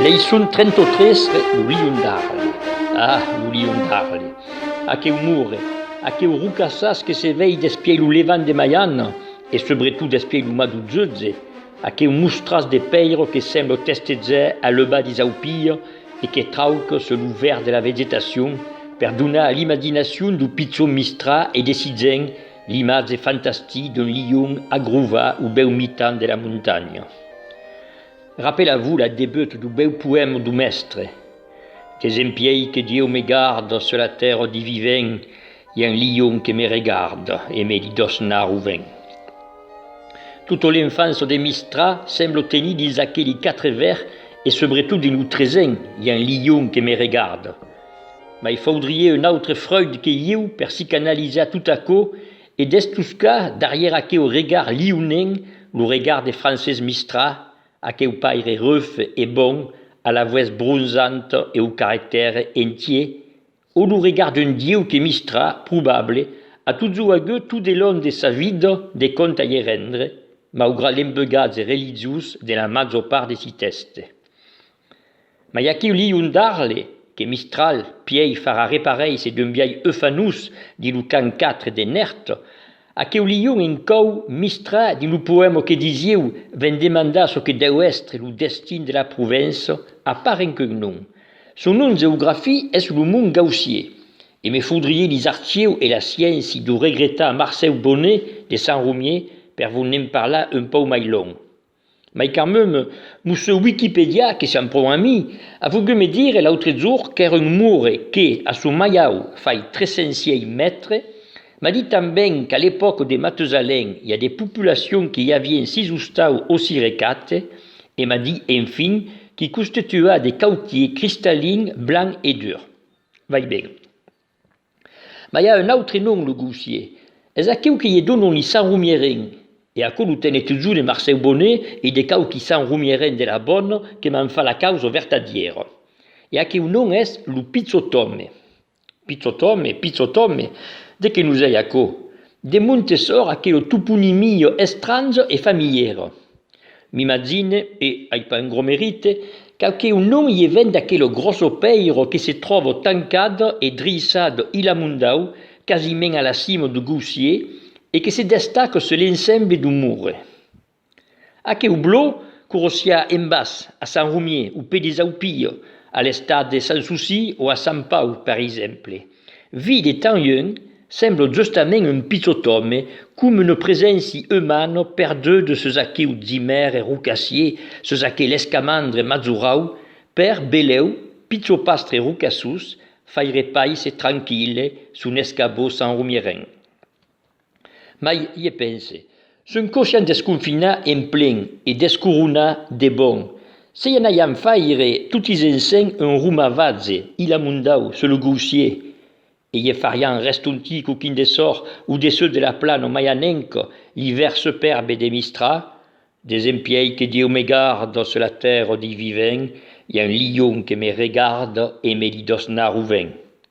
Leiçon 33 Lo lion d'Arles Ah, lo lion d'Arles Aqueu mur, aqueu rocassàs que se vei despiei lo levant de Maiana e subretot despiei lo mas d'Uzutze, Aqueu mostratz de pèiro que sembla testezar a l'euba disaupia e que trauc se lo verd de la vegetacion per donar a l'imaginacion d'o pichon mistrar e desitjant l'imatge fantastic d'un lion agrovar o bèu mitan de la montanha. Rapela-vo la debut d'o bèu poèma d'o mèstre. Qu'es en piei que Dieu me garda sur la tèrra di vivent i un lion que me regarda e me di dos nar o ven. Tota l'enfança de Mistrà semblo tenir dins aqueli quatre vèr e subretot dins lo tresen i un lion que me regarda. Mai faudrie un autre Freud que ieu per psicanalizar tot aquò e destoscar darrièr aqueu regard lionenc lo regard de Francés Mistrà Aqueu paire ruf e bon, a la vues bronzanta e au caractère entier, au lo regard d'un dieu que mistra, probable, a tot çò agut tot de long de sa vida de compte a ie rendre, maugrat l'embeugatge religiós de la major part de si tèxte. Mai aquiu lion d'Arles, que Mistral pièi farà reparéisser d'un biais eufanós dins lo cant 4 de Nèrt, aqueu lion en còu Mistra dins lo poèma que disieu ven demandar çò que dèu èstre lo destin de la Provença a part en qu'un nom. Son nom geografic es lo Mont Gaussier, e me faudriei lis archieu e la scienci d'o regretar Marcèu Bonnet de Sant Romier per vos ne'n parlar un pauc mai long. Mai quand meme, lo seu Wikipedia, que siam pro ami, a volgut me dire l'autre jour qu'èra un mure que, a son maiau, fai 300 siei mètres, m'a dit tanben qu'à l'epòca de Matusalèn i a de populacions que i avien sis ostau o sire quatre, e m'a dit, enfin, qu'i constituaa de cautier cristallin, blanc e dur. Vai ben. Mas i a un autre nom, lo gaussier. Es aqueu que i e donon li Sant Romieren. E aquò lo tene totjor de Marcèu Bonnet e de quauqui Sant Romieren de la Bòne que m'an fat la causa vertadièra. E aqueu nom es lo pichòt òme. Pichòt òme, pichòt òme, de qué nos ei aquò? De montes òr aquela toponimia estranja e familièra. M'imagine, e ai pas un gros merite, qu'auqué un nom ie vent d'aquelo grosso pèiro que se tròvo tancat e driissat ilamundau quasiment a la cimo du goussier e que se destaque se l'ensemble du moure. Aqueu blò qu'orossiá en bas a Sant Romier, au pè des Aupilles, a l'estat de Sant Souci o a Sant Pau, per exemple, Vii de tan lhun, semblo justament un pichot òme, com una preséncia umana perduda sus aquiu zimère rocassier, sus aquel escamandre mazurau, per beleu, pichopastre rocassús, faire paise tranquille son escabó sanromierenc. Mai ie pense, son cochon desconfinar en plen e descoronar de bon, se i anaiam faire totis ensenh un romavatze ilamundau sur lo gaussier, e ie fariam restontir coquin de sòr au dessús de la plana mai anenc l'ivèr superbe de Mistral, desempièi que Dieu me garde sur la tèrra dei vivents, i a un lion que me regarde e me li dòsna rovent.